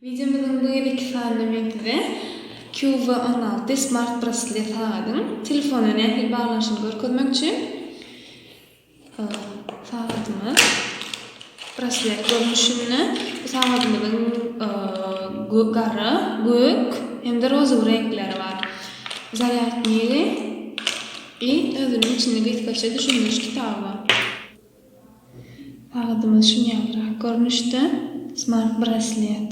Wideomyzyň bu gezeki sanynda men size QV on alty smart braslet sagadyň telefona nähili baglanyşyny görkezmek üçin Sagadymyz braslet görnüşinde. Bu sagadymyzyň gara, gök hem-de rozowy reňkleri bar. Zarýadnyýi i özüniň içinde gysgaça düşündiriş kitaby bar. Sagadymyz şuny ýalyrak görnüşde, smart-braslet.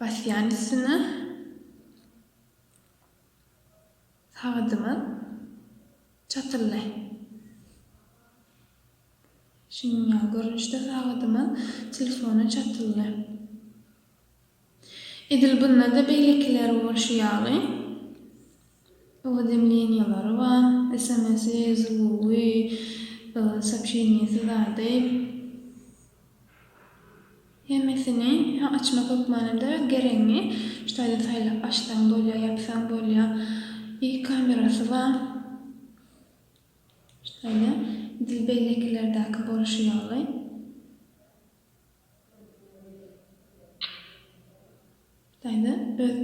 Basýan üstüne sagadyňa çatylla. Şunuň ýaly görnüşde sagadyňa telefona çatylla. Edil bunda-da beýlekileri bolşy ýaly. Uwzemleniýalary bar, sms-i, zlugy, soobşeniýesi zady. Hemmesini açmak hökmanada geregiňi şu taýdan saýlap açsaň bolýar, ýapsaň bolýar. I kamerasy bar. Şu taýda edil beýlekilerdäki bolşy ýaly. Taýza öz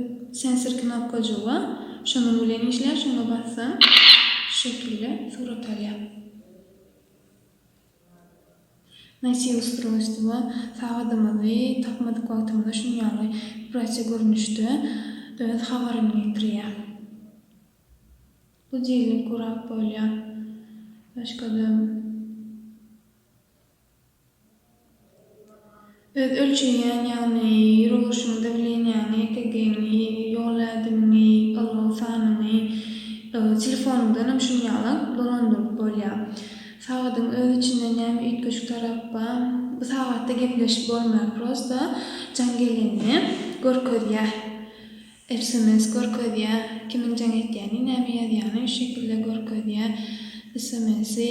sensor knopkajygy şonuň bilen işleýär şoňa bassaň şu şekilde surat alýar. Nosiý ustrojstwo sagadymyzy tapmadyk wagtymyzda şuny ýaly wibratsiýa görnüşde öz habaryny getirýär. Budilnik gurap bolýar. Başgada. Öz ölçeýän, ýagny ýeroluşyňy dawleniýaňy, EKG-ňi, ýol ädimiňi, ylgaw sanyňy, telefonyňdanam şuny ýaly dolandyryp bolýar. Sagadyň öz içinde näme üýtgeşik tarap bar? Bu sagatda gepleşip bolmaýar, prosta jaň geleni görkezýär. Sms görkezýär, kimiň jaň etýäni, näme ýazýany şu şekilde görkezýär. Sms-i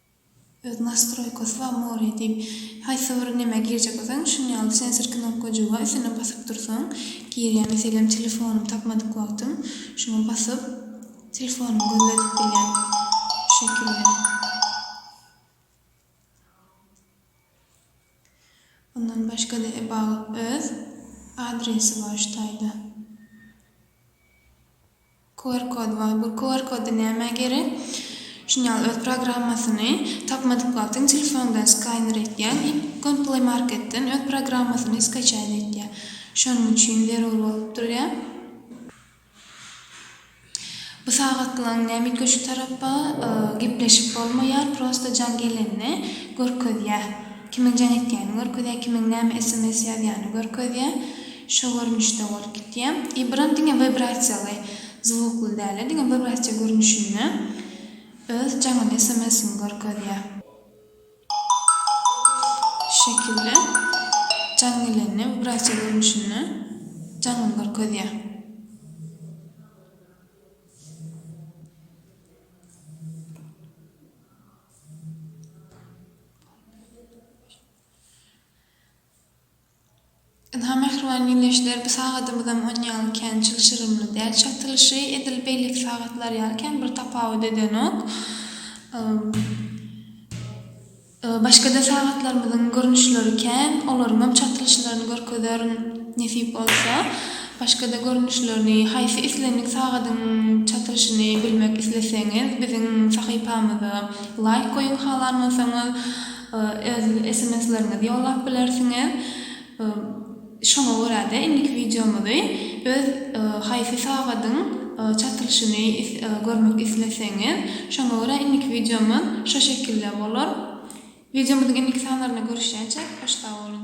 Öz nastroýkasy bar more diýip haýsy bir neme girjek bolsaň şuny ýaly sensor knopkajyga üstüne basyp dursaň girýär meselem telefonym tapmadyk wagtym şuňa basyp telefonymy gözledip bilýän şu şekilde ondan başgada about öz adresi bar şu taýda. QR kod bar. Bu QR kody nämä gerek? Şuny ýaly öz programmasyny tapmadyk wagtyň telefondan skaýner etýär i gon play marketden öz programmasyny skaçaýt etýär. Şonuň üçin zerur bolup durýar. Bu sagatlaň näme üýtgeşik tarapy? Gepleşip bolmaýar, prosta jaň gelende görkezýär. Kimiň jaň etýänini görkezýär, kimiň näme sms ýazýanyny görkezýär. Şo görnüşde bolup gitýä. I bran diňe wibrasiýaly, zwukly dälä, diňe wibrasiýa görnüşinde öz jaňyny sms-ini görkezýä. Şu şekilde jaň gelende wibrasiýa görnüşinde jaňyny görkezýä. Ynha, mähriban giňeşler, bu sagadymyzam on ýaly kän çylşyrymly däl. Çatylyşy edil beýleki sagatlar ýaly kän bir tapawut edenok. Başga-da sagatlarymyzyň görnüşleri kän, olaryňam çatylyşlaryny görkezerin, nesip bolsa. Başga-da görnüşlerini, haýsy islendik sagadyň çatylyşyny bilmek isleseňiz, biziň sahypamyza laýk goýuň, halan bolsaňyz. öz sms-leriňizi ýollap bilersiňiz. Şoňa görä-de, indiki wideomyzy öz haýsy sagadyň çatylyşyny görmek isleseňiz, şoňa görä indiki wideomyz şo şekilde bolar. Wideomyzyň indiki sanlarynda görüşýänçä, hoş sag boluň!